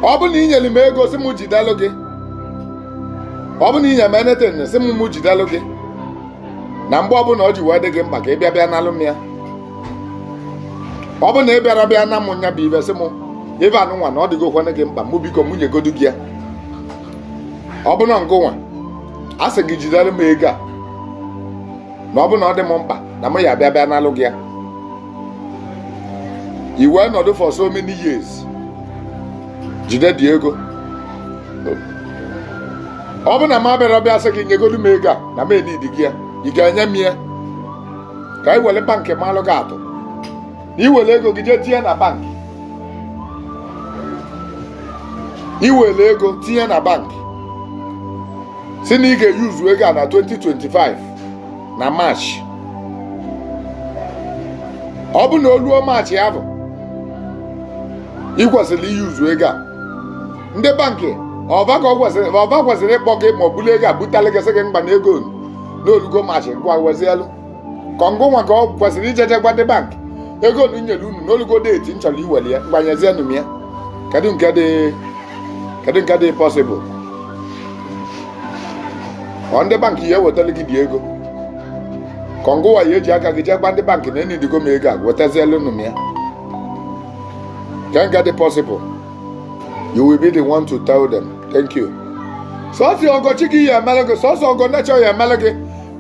ọ bụ na ị nyere m ego si m jidelụ gị ọ bụ na ị nye m anything si m m jidelụ gị na mgbe ọbụla ọ ji wee dị gị mkpa ka ị bịa bịa nalụ m ya ọ bụ na ị bịara bịa na m nya bụ ive sị m ive a nụnwa na ọ dịgokwana gị mkpa mụ biko mụ nyegodu gị ya ọ bụ na ngụnwa a sị gị jidelụ m ego a na ọ bụ na ọ dị m mkpa na m ya bịa bịa nalụ gị ya i wee nọdụ for so many years jide the ego ọ bụ na m abịara bịa sị gị nyegodu m ego a na m enidigo ya ị ga-enye m ya ka e were bankị malụ gị atụ na i were ego gị jee tinye na bankị i were ego tinye na bankị si na ị ga-eyuzu ego a na 2025 na March ọ bụ na o luo March ya bụ ị kwesịrị iyuzu ego a ndị bankị ọ va kwesịrị ịkpọ gị ma bulu ego a butalụ gị sị gị ngwa na ego nụ na o lugo March ngwa wezielu ka ọ ngụnwa ka ọ kwesịrị ijeje gwa ndị bankị ego nụ nyere unu na o lugo date m chọrọ iweli ya ngwa nyezienụ m ya kedu nke dị kedu nke dị possible ọ ndị bankị ya-ewetara gị the ego ka ọ ngụnwa ya-eji aka gị jee gwa ndị bankị na enidigo m ego a wetazielunụ m ya kee nke dị possible you will be the one to tell them thank you sọsọ ọgọ chi gị ya-emere gị sọsọ ọgọ nature ya-emere gị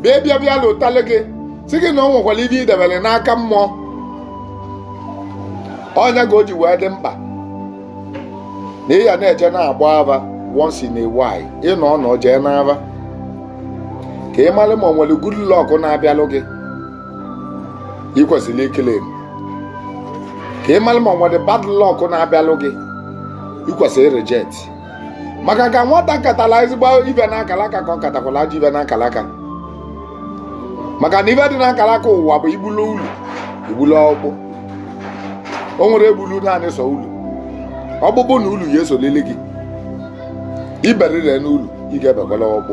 bịa bịa bịa lotalụ gị sị gị na o nwekwara ive ị debere n'aka mụ ọ nya ka o ji wee dị mkpa na ị ya na-eje na-agba ava once in a while ị nọọ nọọ jee n'ava ka ị mara ma o nwere good luck na-abịalụ gị ị kwesịrị iclaim ka ị mara ma o nwere bad luck na-abịalụ gị ị kwesịrị ịreject maka ka nwata katala ezigbo ive n'akalaka ka ọ katakwala ajọ ive n'akalaka maka na ive dị n'akalaka ụwa bụ i gbulu ulu i gbulu ọkpụ o nwerọ egbulu naanị sọ ulu ọkpụkpụ na ulu ya-esolili gị i beriri n'ulu ị ga-ebekwala ọkpụ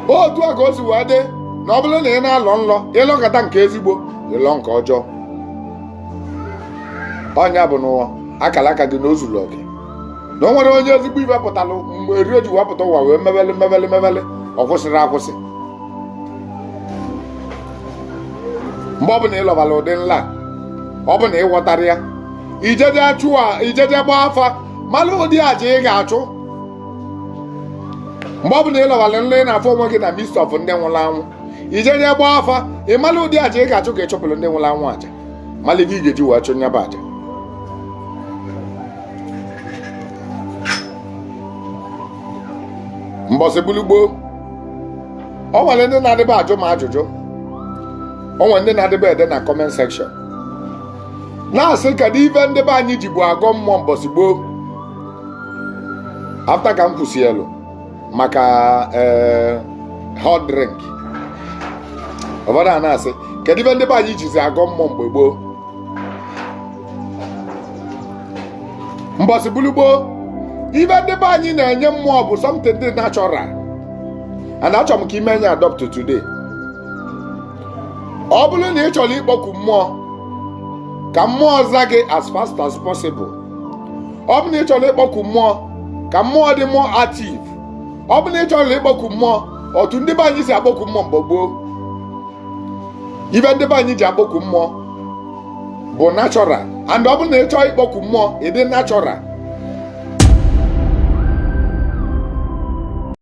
otu a ka o si wee dị na ọ bụrụ na ị na-alọ nlọ ị lọkata nke ezigbo ị lọ nke ọjọọ ọ nya bụ n'ụwa akalaka gị na o zulu gị na o nwere onye ezigbo ive pụtara mgbe eri o ji wee pụta ụwa wee mebele mebele mebele ọ kwụsịrị akwụsị mgbe ọ bụla ị lọbara ụdị nlọ ọ bụ na ị ghọtara ya i jeje chụwa i jeje gbaa afa mara ụdị aja ị ga-achụ mgbe ọ bụla ị lọbara nlọ ị na-afụ onwe gị na midst of ndị nwụrụ anwụ i jeje gbaa afa ị mara ụdị aja ị ga-achụ ka ị chụpụrụ ndị nwụrụ anwụ aja malụ gị ga-eji wee chụ nyaba aja mbọsị gbulu gboo o nwere ndị na-adịba ajụ m ajụjụ o nwere ndị na-adịba ede na comment section na-asị kedu ife ndị be anyị jibu agọ mmụọ mbọsị gboo after ka m kwusịlụ maka eh, hot drink ụfọdụ a na-asị kedu ife ndị be anyị jizi agọ mmụọ mgbe gboo mbọsị gbulu gboo ife ndị be anyị na-enye mmụọ bụ something dị natural and achọrọ m ka i mee nya adopt today ọ bụrụ na ị chọrọ ịkpọku mmụọ ka mmụọ za gị as fast as possible ọ bụ na ị chọrọ ịkpọku mmụọ ka mmụọ dị more active ọ bụ na ị chọrọ ịkpọku mmụọ otu ndị be anyị si akpọku mmụọ mgbe gboo ife ndị be anyị ji akpọku mmụọ bụ natural and ọ bụ na ị chọọ ịkpọku mmụọ ị dị natural